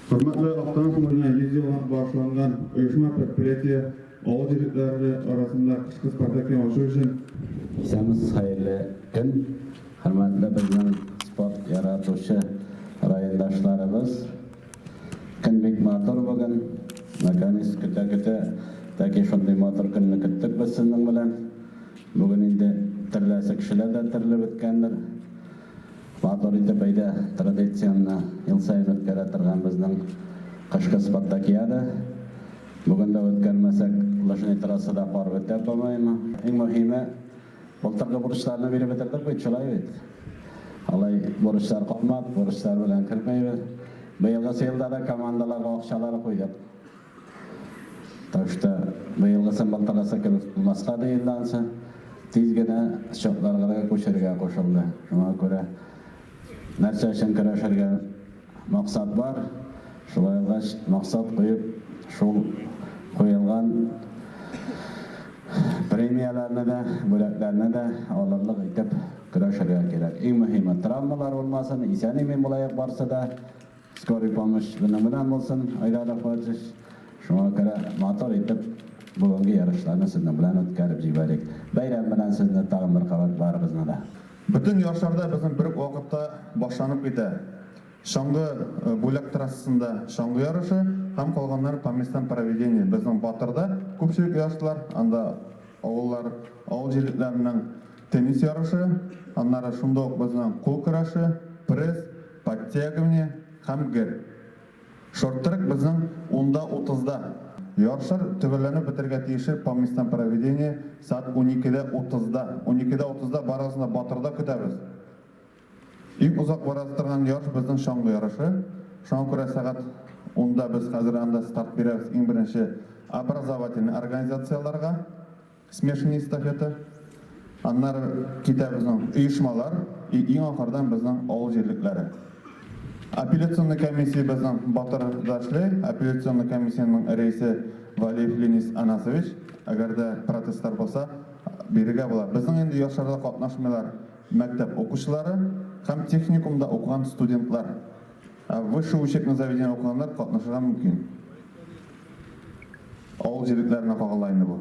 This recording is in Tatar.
Хөрмәтле Актаныш күңеленә 100 ел багышланган оешма-предприятие авыл җирлекләре арасында кышкы спартакиан ачу өчен Исәнмесез, хәерле көн! Хөрмәтле безнең спорт яратучы райондашларыбыз! Көн бик матур бүген. Наконец, көтә-көтә тәки шундый матур көнне көттек без сезнең белән. Бүген инде төрләсе кешеләр дә төрле беткәндер. Матур итеп бәйдә традициянне ел саен үткәрә торган безнең кышкы спартакиада. Бүген дә үткәрмәсәк, лыжный трассада пар бетә, по-моему. Иң мөһиме, былтыргы бурычларны биреп бетердек бит, шулай бит? Алай бурычлар калмады, бурычлар белән кермәйбез. Быелгысы елда да командаларга акчалар куйдык. Так что быелгы сымбыл тагасы кебек булмаска быел ансы тиз генә счетларга күчерергә кушылды. Шуңа күрә нәрсә өчен көрәшергә максат бар, шулай булгач максат куеп шул куелган премияләрне дә, бүләкләрне дә алырлык итеп көрәшергә кирәк. Иң мөһиме травмалар булмасын, исән-имин булаек барсы да. Скорый помощь белән белән булсын, Айдар Рафаевич. Шуңа күрә матур итеп бүгенге ярышларны сезнең белән үткәреп җибәрик. Бәйрәм белән сезне тагын бер кабат барыгызны да. Бөтен ярышларда безнең бер үк вакытта башланып китә. Чаңгы бүләк трассасында чаңгы ярышы һәм калганнары по местам проведения. Безнең Батырда күпчелек ярышлар, анда авыллар, авыл җирлекләренең теннис ярышы, аннары шунда ук безнең кул көрәше, пресс, Подтягивание һәм гер. Шорт-трек безнең унда утызда, ярышлар төгәлләнеп бетәргә тиешер по местам проведения сәгать уникедә утызда. Уникедә утызда барыгызны да Батырда көтәбез. Иң озак бара торган ярыш безнең чаңгы ярышы. Шуңа күрә сәгать унда без хәзер анда старт бирәбез иң беренче образовательный организацияләргә. Смешанная эстафета. Аннары китә безнең оешмалар и иң ахырдан безнең авыл җирлекләре. Апелляционный комиссия безнең Батыр да эшли. Апелляционный комиссиянең рәисе Валиев Ленис Анасович. Әгәр дә протестлар булса, бирергә була. Безнең инде ярышларда катнашмыйлар мәктәп укучылары һәм техникумда укыган студентлар. Ә высшее учебное заведение укыганнар катнашырга мөмкин. Авыл җирлекләренә кагыла инде бу.